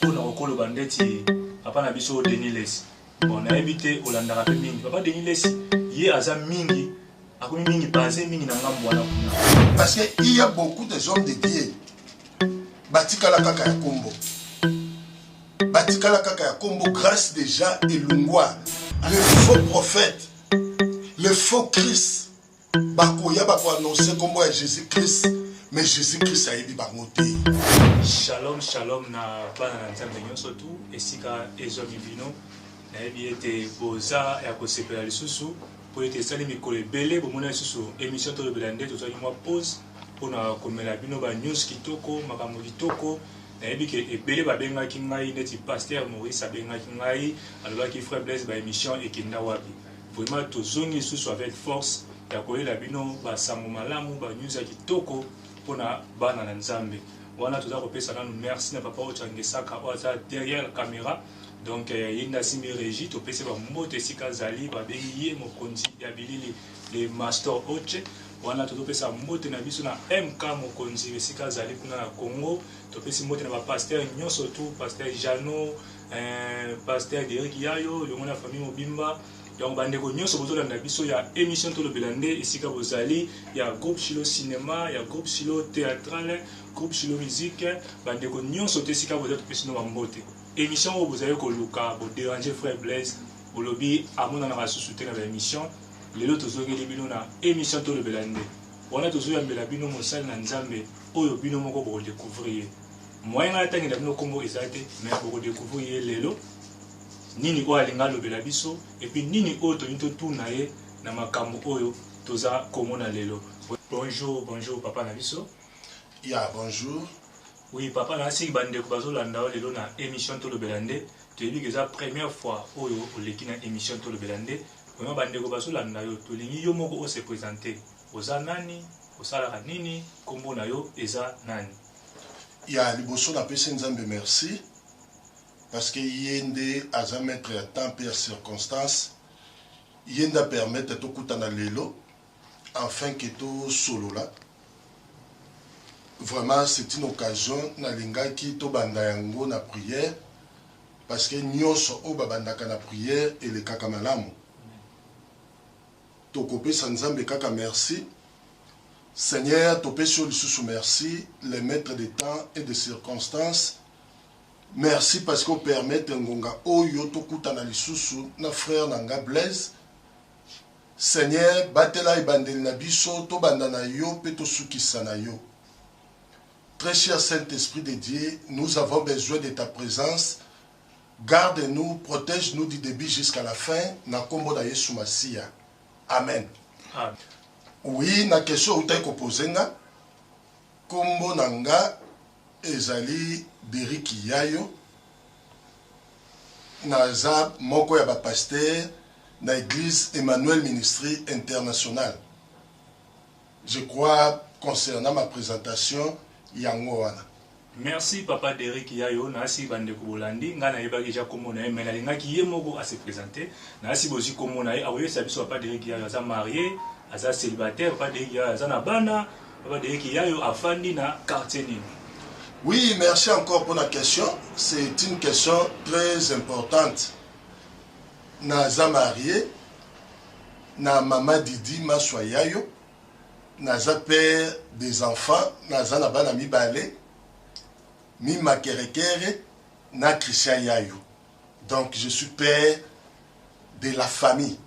oyo na kokoloba ndeti papa na biso denis lesi bon nayebi te olandaka mpe mingi papa denis lesi ye aza mingi akomi mingi base mingi na ngambo wana kuna parce que il y a beaucoup des hommes de dieu batikala kaka ya kombo batikala kaka ya kombo grâce déjà elongwa le faux prophète le faux christ Bakoya bako annoncer kombo ya Jesus Christ mais Jesus Christ ayebi bango te. Shalom shalom na bana na Nzambe nyonso tu esika ezwami bino nayebi ete boza ya kosepela lisusu mpo ete esali mikolo ebele bomona lisusu émission tolobela nde tozwaki mwa pause mpo na komela bino ba news kitoko makambo kitoko nayebi ke ebele babengaki ngai neti paster maurice abengaki ngai alobaki frère blaise ba émission ekenda wapi Vraiment tozongi lisusu avec force ya koyela bino ba sango malamu ba news ya kitoko pona bana na Nzambe. Wana toza kopesa nanu merci na papa Ocha Ngesaka oyo aza derrière camera. Donc euh, ye nde asimbi regie topesi ba mbote esika azali babengi ye mokonzi ya bilili le master Oche. Wana tozopesa mbote na biso na MK mokonzi esika azali kuna na Congo. Topesi mbote na ba pasteur nyonso tu pasteur Jeannot eh, pasteur Derek Yayo elongo na famille mobimba donc bandeko nyonso bozolanda biso ya émission tolobela nde esika bozali ya groupe silo cinéma ya groupe silo théâtrale groupe silo musique bandeko nyonso te esika boza topesi no bambote émission oyo bozali koluka boderange frère blaise bolobi amonanaka susu te na baémission lelo tozongeli bino na émission tolobela nde wana tozoyambela bino mosali na nzambe oyo bino moko bokodecouvrir ye moyen ngai atangela bino kombo eza te mais boko découvrir ye lelo nini oyo alinga alobela biso epuis nini oyo tolingi totuna ye na makambo oyo toza komona lelo bonjour bonjour papa na biso ya yeah, bonjour oui papa na asiki bandeko bazolanda yo lelo na émission tolobela nde toyebi ke eza première fois oyo oleki na émission tolobela nde vraiment bandeko bazolanda yo tolingi yo moko ose présente oza nani osalaka nini nkombo na yo eza nani Ya liboso na pesi nzambe merci parce que ye nde aza maitre ya temps pe ya circonstance ye nde a permettre to kutana lelo enfin que to solola vraiment c'est une occasion na lingaki to banda yango na prière parce que nionso oyo ba bandaka na prière elekaka malamu Tokopesa nzambe kaka merci. Seigneur topesi yo lisusu merci le maitre de temps et de circonstance merci parce que o permettre ngonga oyo tokutana lisusu na frère na nga Blaise Seigneur batela ebandeli na biso tobanda na yo pe tosukisa na yo Très cher Saint-Esprit de Dieu nous avons besoin de ta présence Garde nous protège nous du debut jusqu'à la fin na kombo na yesu masiya amen. Oui na question outaki ko pose nga kombo na nga ezali Derrick Yayo naza moko ya ba pasteur na eglise Emmanuel ministry international Je crois concernant ma presentation yango wana. Merci papa Derrick yayo nasi ba ndeko bolandi ngai nayebaki dejà kombo naye mais nalingaki ye moko a se presenter nasi bozui kombo naye akoyebisa biso papa Derrick yayo aza marie aza celibataire papa Derrick yayo aza na bana papa Derrick yayo afandi na quartier nini Oui, merci encore pour la question. C'est une question très importante. Naza marié, na maman Didi maswa yayo naza père des enfants naza na bana mibale mima kerekere na Christian yayo donc je suis père de la famille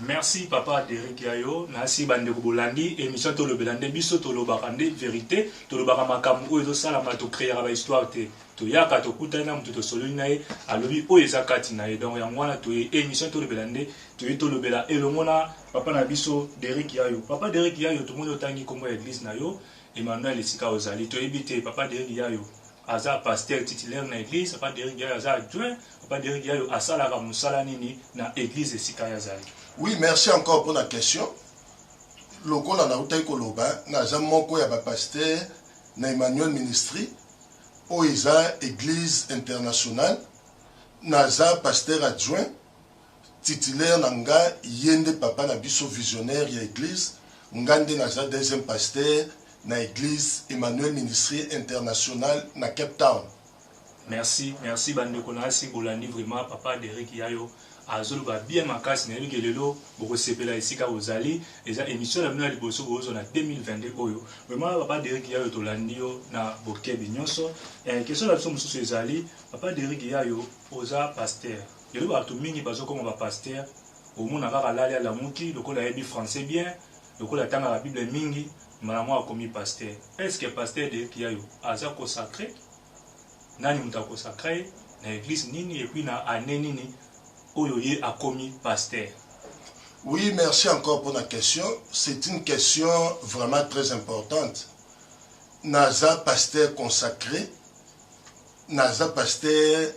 Merci papa Derek Yayo, nasi bande ko bolandi émission to lobela nde biso to lobaka nde vérité, to lobaka makambo oyo ezo sala ma to créer ba histoire te. Toyaka tokutani na moto tosololi na ye alobi oyo eza kati na ye donc yango wana toye emission tolobela nde toye tolobela elongo na papa na biso Derrick Yayo. Papa Derrick Yayo tomoni otangi kombo ya eglise na yo Emmanuel esika ozali toyebi te papa Derrick Yayo aza pasteur titulaire na eglise papa Derrick Yayo aza adjoint papa Derrick Yayo asalaka mosala nini na eglise esika ye azali. Oui merci encore pona question lokola nautaki koloba naza moko ya ba pasteur na Emmanuel ministry. Oyo eza eglise internationale naza pasteur adjoint titulaire na nga ye nde papa na biso visionnaire ya eglise nga nde naza deuxième pasteur na eglise Emmanuel ministrie internationale na Cape Town. Merci merci ba ndeko nasi bolandi vraiment papa Derrick yayo. Azoloba bien makasi nayebi ke lelo bokosepela esika bozali eza emission na bino ya liboso bozozwa na 2022 oyo vraiment papa Derrick yayo tolandi yo na bokebi nionso eh, question na biso mosusu ezali papa Derrick yayo oza pasteur lelo batu mingi bazokoma ba pasteur omona kaka lali alamuki lokola ayebi français bien lokola atangaka bible mingi mbala moko akomi pasteur est ce que pasteur Derrick yayo aza consacre Nani mutu a consacra ye na eglise nini et puis na annee nini oyo ye akomi pasteur? Oui merci encore pona question c'est une question vraiment très importante naza pasteur consacre naza pasteur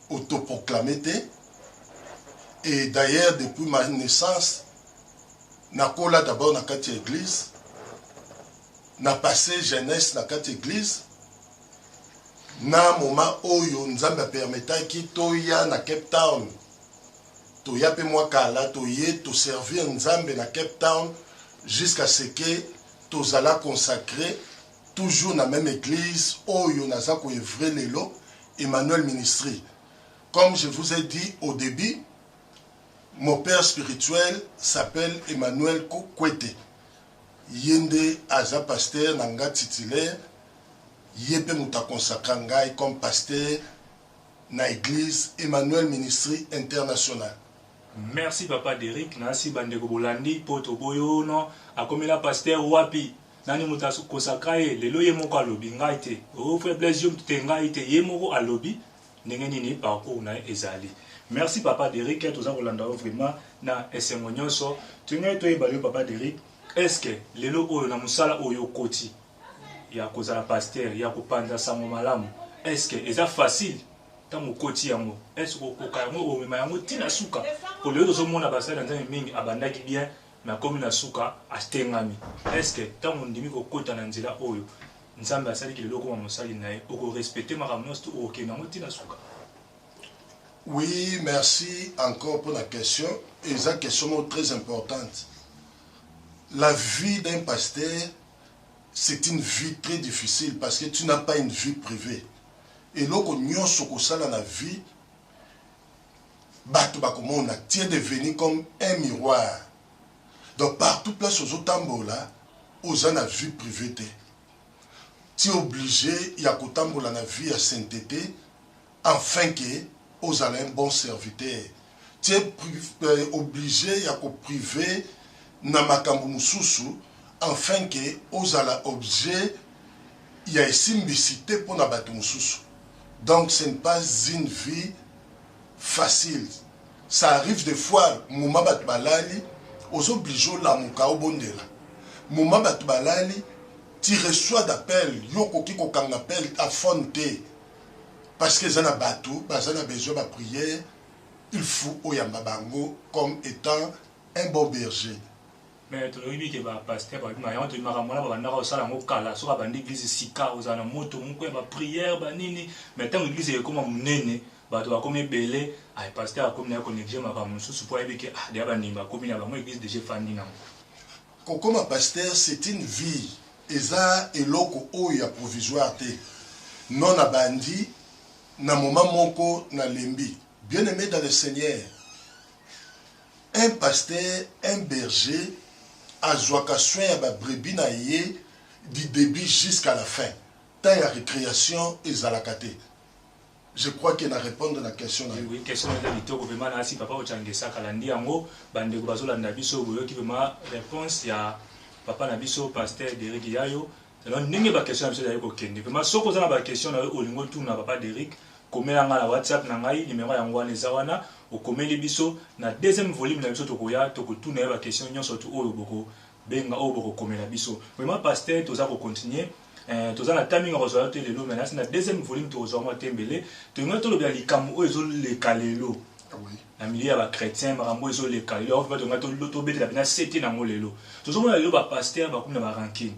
autoproclame te et d'ailleurs depuis ma naissance nakola d'abord na kati ya eglise na passe jeunesse na kati eglise na moma oyo nzambe a permetaki toya na cape town toya pe mwa kala toye to servir nzambe na cape town jusqu'à ce que tozala consacre toujours na meme eglise oyo naza ko evre lelo emmanuel ministry comme je vous ai dit au début mon père spirituel s'appelle emmanuel kwete Ye nde aza pasteur na nga titulaire, ye pe mutu a consacra ngai comme pasteur na eglise Emmanuel Ministry International. Merci papa Derrick nasi ba ndeko bolandi po toboyono akomela pasteur wapi nani mutu a consacra ye lelo ye moko alobi ngai te ooh frère Blaise yo mutu te ngai te ye moko alobi ndenge nini parcours na ye ezali merci papa Derrick toza kolanda yo vraiment na esengo nyonso tolingai toyeba yo papa Derrick est ce que lelo oyo na mosala oyo okoti ya kozala pasteur ya kopanza sango malamu est ce que eza facile ntango okoti yango est ce que okoka yango omema yango ntina suka polelo tozomona basali na nzambe mingi abandaki bien Nakomi na suka, Atengami. Est-ce que tango ondimi kokota na nzela oyo Nzambe asali kilelo okoma mosali na ye, oko respecter makambo nionso tout okokende na yango ti na suka? Oui merci encore pona question eza question moko très importante la vie d'un pasteur c'est une vie très difficile parce que tu n'as pas une vie privee eloko nionso okosala na vie batu bakomona tu es devenu comme un miroir donc partout place ozo tambola oza na vie privee te tu es oblige ya kotambola na vie ya saintete enfin que ozala un bon serviteur tu es euh, oblige ya ko prive na makambo mosusu enfin que ozala objet ya esimbisi te pona batu mususu donc ce ne pas une vie facile ça arrive de fois moment batu balali ozo oblige olamuka obondela moment batu balali tu reçois d'appel yo okoki kokanga appel a phone te parce que eza na batu baza na besoin ba prière il faut oyamba bango comme etant un bon berger Mais toyebi ke ba pasteur ba bima yango tobimaka mwana ba bandaka osala yango kala soki abandi eglise sika ozala na moto moko ya ba prière ba nini mais ntango eglise ekoma monene bato bakomi ebele ay pasteur akomi naye koneglige makambo mosusu mpo ayebi ke ah deja bandimi bakomi na bango eglise deja efandi nango kokoma pasteur c'est une vie eza eloko oyo ya provisoire te non nabandi na moment moko nalembi bien aime dans le seigneur Un pasteur, un berger azuaka soin ya ba brebis na ye du debut jusqu'à la fin. Temps ya recreation ezalaka te. Je crois que na repondre na question na yo. Oui, question eza kitoko vraiment nasi papa Ocangesa kalandi yango ba ndeko bazo landa biso boyoki vraiment reponse ya papa na biso pasteur Derrick Yayo alors ndenge ba question na biso ezali kokende vraiment soki oza na ba question na yo olingi otuna papa Derrick Komela nga na WhatsApp na ngai numero yango wana eza wana okomeli biso na deuxième volume na biso tokoya toko tuna yo ba question nionso tout oyo boko benga oyo boko komela biso vraiment pasteur toza ko continuer eh, toza na temps mingi kozwa yo te lelo mais nasi na deuxième volume tokozwa mwa te mbele tolinga tolobela likambo oyo ezo leka lelo ah oui. na milieu ya ba chrétien makambo ezo leka lelo yango vraiment tolinga tobetela pena sete nango lelo tozomona lelo ba pasteur bakomi na ba rancune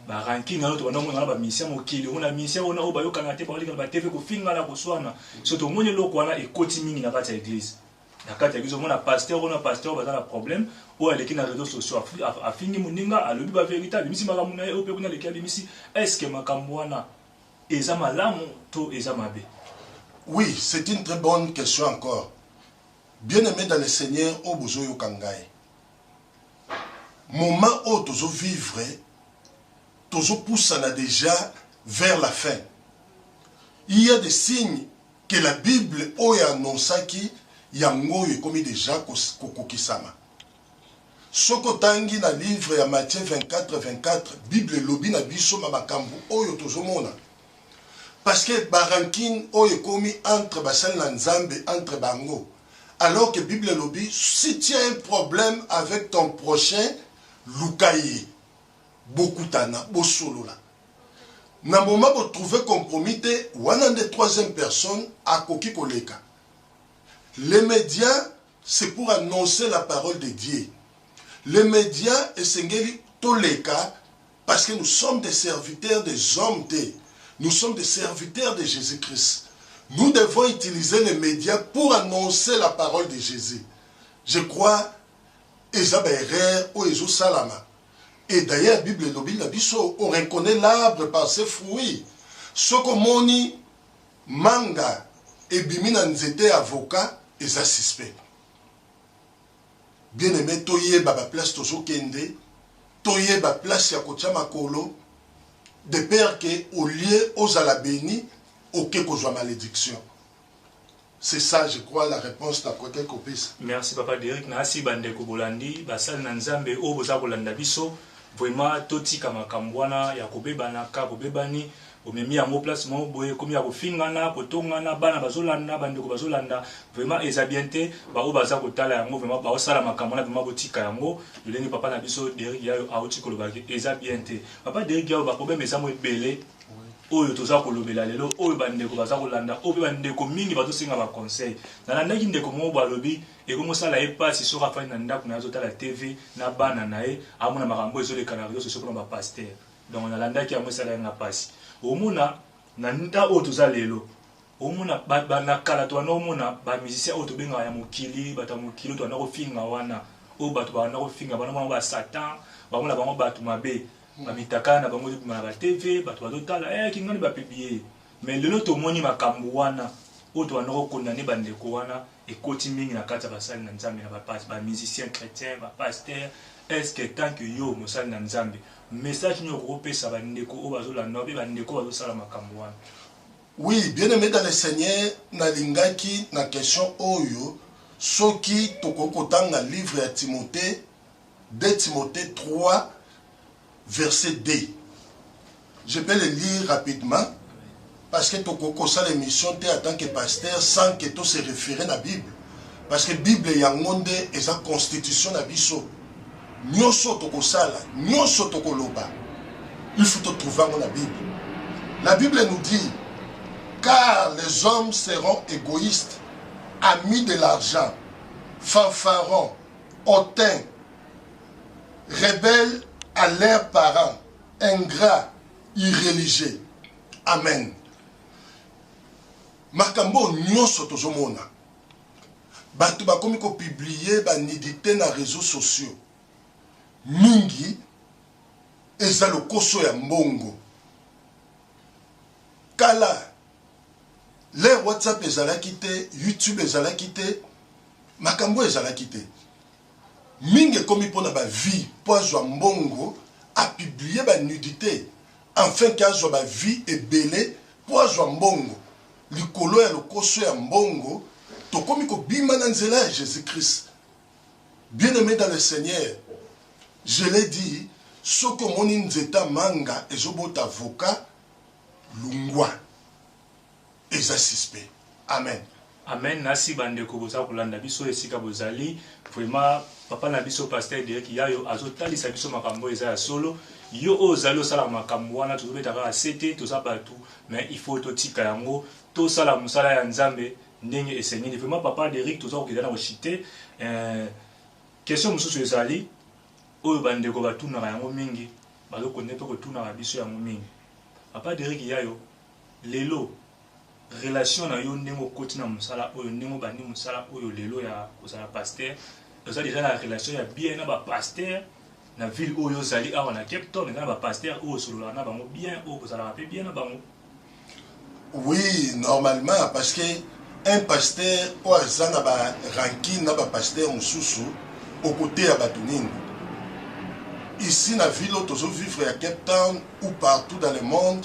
ba ranking na yo tobanda komona na ba musicien mokili omona musicien ona oyo bayokana te baoleka na ba tv kofingana koswana so tomoni eloko wana ekoti mingi na kati ya eglise na kati ya eglise omona pasteur ona pasteur baza na problème oyo aleki na réseaux sociaux afingi moninga alobi ba verité abimisi makambo na ye oyo mpe kuna aleki abimisi eske makambo wana eza malamu to eza mabe oui c'est une très bonne question encore bien aimé dans le seigneur oyo bozoyoka ngai Moment oyo tozo vivre tozo pusana dejà vers la fin. Il ya des signes que la bible oyo e annoncaki yango oyo ekomi dejà ko kokisama. Soki otangi na livre ya Matthieu 24, 24, bible elobi na biso ba makambu oyo tozo mona. Parce que ba rancune oyo ekomi entre basali na Nzambe entre bango. alors que bible elobi si tu as un problème avec ton prochain luka ye bokutana bosolola na moma botrouve compromis te wana nde troisième personne akoki koleka les médias c'est pour annoncer la parole de dieu les médias esengeli toleka Parce que nous sommes des serviteurs des hommes te, nous sommes des serviteurs de Jesus Christ. Nous devons utiliser les medias pour annoncer la parole de Jesus. Je crois eza ba erreur oyo ezo salama. Et d'ailleurs Bible elobi na biso on reconnaît l'arbre par ses fruits. Soko moni manga ebimi na nzete avocat eza suspect. Bien aime toyeba ba place tozo kende toyeba place ya kotia makolo de peur que au lieu ozala beni oke kozua malediction c'est ça je crois la reponse na kokaki kopesa. Merci papa Derrick nasi ba ndeko bolandi basali na nzambe oyo boza kolanda biso vraiment totika makambu wana ya kobebana ka bobebani Omemi yango place moko boye ekomi ya kofingana, kotongana, bana bazolanda, bandeko bazolanda vraiment ezabiens te, ba oyo baza kotala yango vraiment baosala makambo wana vraiment botika yango, lolenge papa na biso Derrick yayo awuti koloba ke eza bien te, papa Derrick yayo ba problème eza mwa ebele oyo toza kolobela lelo oyo bandeko baza kolanda oyo pe bandeko mingi bazosenga ba conseil, nalandaki ndeko moko boye alobi ekomosala ye pasi soki afandi na ndaku naye azotala TV na bana naye amona makambo ezoleka na reseaux sociaux pona ba pasteur. donc nalandaki yango esalaki nga mpasi omona na nta oyo toza lelo omona na kala towana omona bamusicien oyo tobengaka ya mokili bato ya mokili towana kofinga wana oyo bato bawana kofinga bana bango basatan bango na bango bato mabe mm. bamitakala na bango ezobima na batv bato bazotala e eh, kingani bapiblie mais lelo tomoni makambo wana oyo towana kokondane bandeko wana ekoti mingi na kati ya basali na nzambe na bapasi ba musicien chrétien ba pasteur eske tant que yo mosali na nzambe message nini okoki opesa bandeko oyo bazolanda obe bandeko oyo bazosala makambo wana oui bien aimé dans le seigneur nalingaki na question oyo soki tokoki kotanga livre ya timote de timote 3 Verset B. Je peux le lire rapidement parce que tokoki kosala emission te en tant que pasteur sans que to se referer na Bible parce que Bible yango nde eza constitution na biso. Nyoso tokosala, nyoso tokoloba, il faut to trouver yango na Bible. La Bible nous dit car les hommes seront égoïstes, amis de l'argent, fanfarons, hautains, rebelle à leurs parents, ingrat, irreligieux. Amen. makambo nyonso tozomona bato bakomi kopiblie banidite na réseau sociaux mingi eza lokoso ya mbongo kala le whatsapp ezalaki te youtube ezalaki te makambo ezalaki te Mingi ekomi pona ba vie po azwa mbongo a publie ba nudite enfin que azwa ba vie ebele po azwa mbongo likolo ya lokoso ya mbongo tokomi ko bima na nzela ya Jesus Christ bien aime dans le seigneur je l'ai dit soki omoni nzete ya manga ezo bota avocat lungwa. eza suspect amen. Amen nasi ba ndeko boza kolanda biso esika bozali vraiment papa na biso pasteur Derrick yayo azo talisa biso makambo oyo eza ya solo yo oyo ozali osalaka makambo wana tozo beta kaka sete toza batu mais il faut totika yango tosala mosala ya Nzambe ndenge esengeli vraiment papa Derrick toza kokende na koshite eh, question mosusu ezali oyo ba ndeko batunaka yango mingi bazo konde pe kotunaka biso yango mingi papa Derrick yayo Lelo, relation na yo ndenge okoti na mosala oyo, ndenge obandi mosala oyo lelo ya kozala pasteur, oza dejà na relation ya bien na ba pasteurs na ville oyo ozali awa na Cape Town, eza na ba pasteurs oyo osololaka na bango bien, oyo bozalaka pe bien na bango? Oui, normalement parce que un pasteur oyo aza na ba rancune na ba pasteurs mosusu okoteya bato nini? Ici na ville oyo tozo vivre ya Cape Town ou partout dans le monde,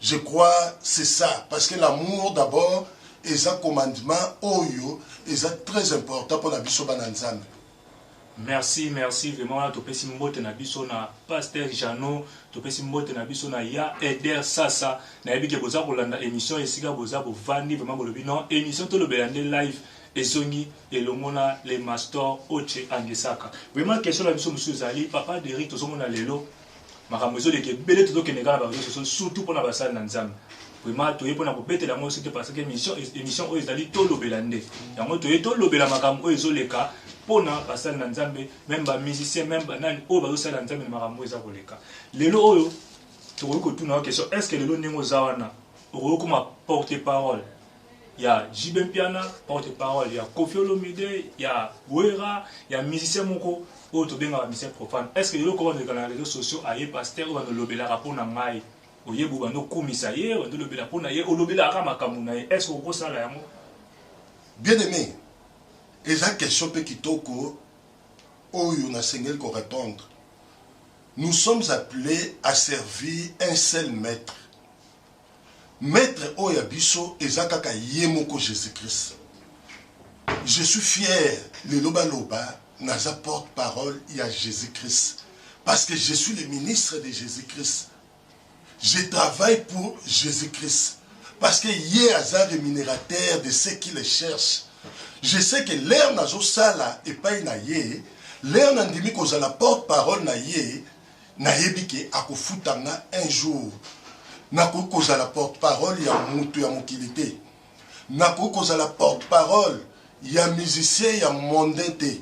Je crois c'est ça parce que l'amour d'abord eza commandement oyo eza très important pona biso bana nzambe Merci, merci vraiment. Wana topesi mbote na biso na Pasteur Jeannot, topesi mbote na biso na Ya Eder Sasa. Na yebi ke boza kolanda émission esika boza bovandi vraiment bolobi non émission tolobela nde live ezongi elongo na le mastor Oche Angesaka. Vraiment question na biso mosusu ezali papa Derrick tozomona lelo Makambo ezoleka ebele tozokende kaka na ba reseaux sociaux surtout pona basali na Nzambe. Vraiment toye pona kobetela yango sete parce que emission emission oyo ezali tolobela nde. Yango toye tolobela makambo oyo ezoleka pona basali na Nzambe meme ba musiciens meme ba nani oyo bazosalela Nzambe na makambo oyo eza koleka. Lelo oyo tokoki kotuna yo question est-ce que lelo ndenge oza wana okoki kokoma porte parole ya JB Mpiana porte parole ya Koffi Olomide ya Werra ya musicien moko oyo tobengaka musicien profane est ce que eloko bandoleka na réseaux sociaux aye pasteur oyo bandolobelaka mpo na ngai oyebi obanda okumisa ye obanda olobela mpo na ye olobelaka kaka makambo na ye estce okosala yango bien aimé eza question mpe kitoko oyo nasengeli korépondre nous sommes appelés à servir un seul maître Maitre oyo ya biso eza kaka ye moko Jesus Christ je suis fier lelo baloba naza porte parole ya Jesus Christ parce que je suis le ministre de Jesus Christ je travaille pour Jesus Christ parce que ye aza remunerateur de ceux qui le cherchent je sais que l'heure nazosala epai na ye l'heure nandimi kozala porte parole na ye Na yebi ke ako futa nga un jour. Na koki ko zala porte parole ya mutu ya mokili te. Na koki ko zala porte parole ya musicien ya mondain te.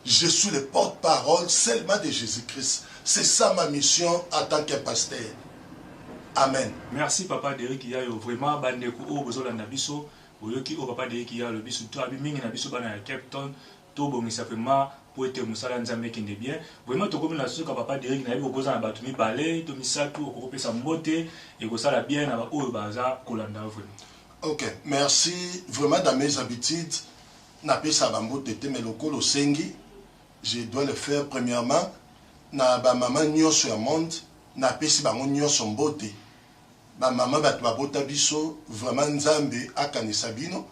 Je suis le porte parole seulement de Jesus Christ. C'est ça ma mission en tant qu'un pasteur. Amen. Merci papa Derrick Yayo vraiment ba ndeko oyo bozo landa biso boyoki oyo papa Derrick Yayo alobi surtout abi mingi na biso bana ya Cape Town Tobongisa vraiment po ete musala ya nzambe ekende bien vraiment tokomi na suka papa Derrick nayebi okoza na batu mibale to misatu okoki kopesa mbote ekosala bien na ba oyo baza kolanda yo vraiment. Ok merci vraiment dans mes habitudes napesa ba mbote te mais lokola osengi je dois le faire premièrement na ba maman nionso ya monde napesi bango nionso mbote ba maman batu babota biso vraiment nzambe akanisa bino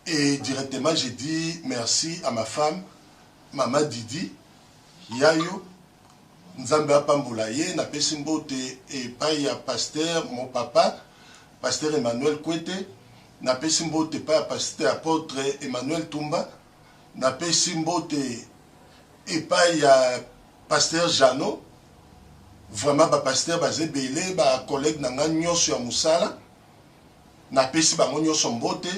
Et directement je dis merci à ma femme maman Didi yayo nzambe apambola ye na pesi mbote epai ya pasteur mon papa pasteur Emmanuel Kwete na pesi mbote epai ya pasteur apotre Emmanuel Tumba na pesi mbote epai ya pasteur Jeannot vraiment ba pasteur baza ebele ba collègue na nga nyonso ya mosala Napesi bango nioso mbote,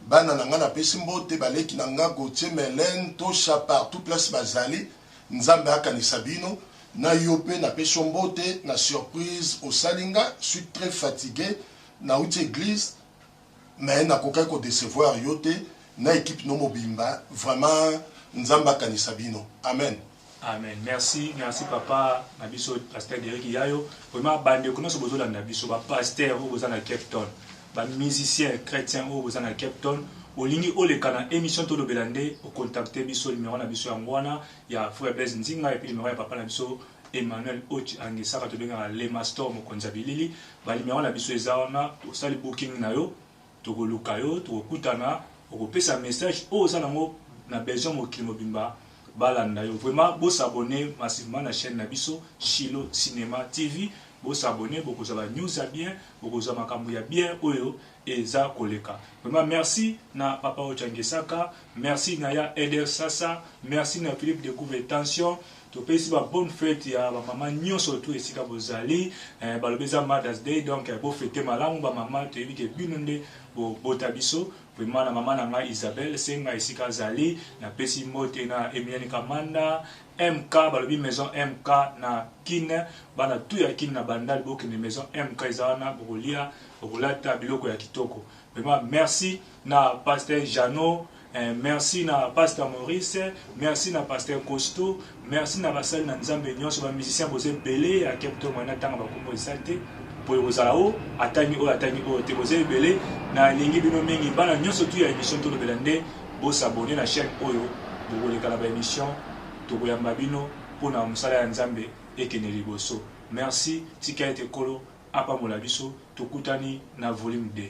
bana na nga napesi mbote, baleki na nga Gauthier, Melaine, Tosha partout place bazali, Nzambe akanisa bino, na yo pe napesi yo mbote na surprise osali nga, suis tres fatigue, nawuti eglise mais nakokaki ko decevoir yo te na equipe no mobimba vraiment Nzambe akanisa bino amen. Amen merci merci papa na biso pasteur Derrick Yayo vraiment bande ko nyoso bozolanda biso ba pasteur oyo boza na Cape Town ba musicien chrétien oyo boza na Cape Town olingi oleka na émission tolobela nde ocontacte biso numéro na biso yango wana ya frère Blaise Nzinga epuis numéro ya papa na biso Emmanuel Ochi angisaka tobengaka le mastor mokonzi ya bilili ba numéro na biso eza wana osali booking na yo Toko luka yo toko kutana oko pesa message oyo oza nango na besoin mokili mobimba ba landa yo vraiment bo s'abonner massivement na chaine na biso Shilo cinema TV bo s'abonner boko zwa ba news ya bien boko zwa makambu ya bien oyo eza koleka vraiment merci na papa ocha ngesaka merci na ya Eder sasa merci na Philippe de Gouve tension Topesi ba bonne fete ya ba maman nionso tout esika bozali eh, balobi eza mothers day donc eh, bo fete malamu ba maman toyebi ke bino nde bo bota biso vraiment na maman na ngai Isabelle senga esika azali na pesi mbote na Emilienne Kamanda MK balobi maison MK na Kin bana tout ya Kin na Bandal bokende maison MK eza wana bokolia bokolata biloko ya kitoko vraiment merci na pasteur Jeannot eh, merci na pasteur Maurice merci na pasteur Costo merci na basali na Nzambe nyonso ba musiciens boza ebele ya kepto mwana tanga bakombo eza te mpo ekozala o atangi oyo atangi oyo te boza ebele nalingi bino mingi bana nyonso tu ya émission tolobela nde bosabone na chaîne oyo bokoleka na baémission tokoyamba bino mpo na mosala ya nzambe ekende liboso merci tika ete kolo apambola biso tokutani na volume 2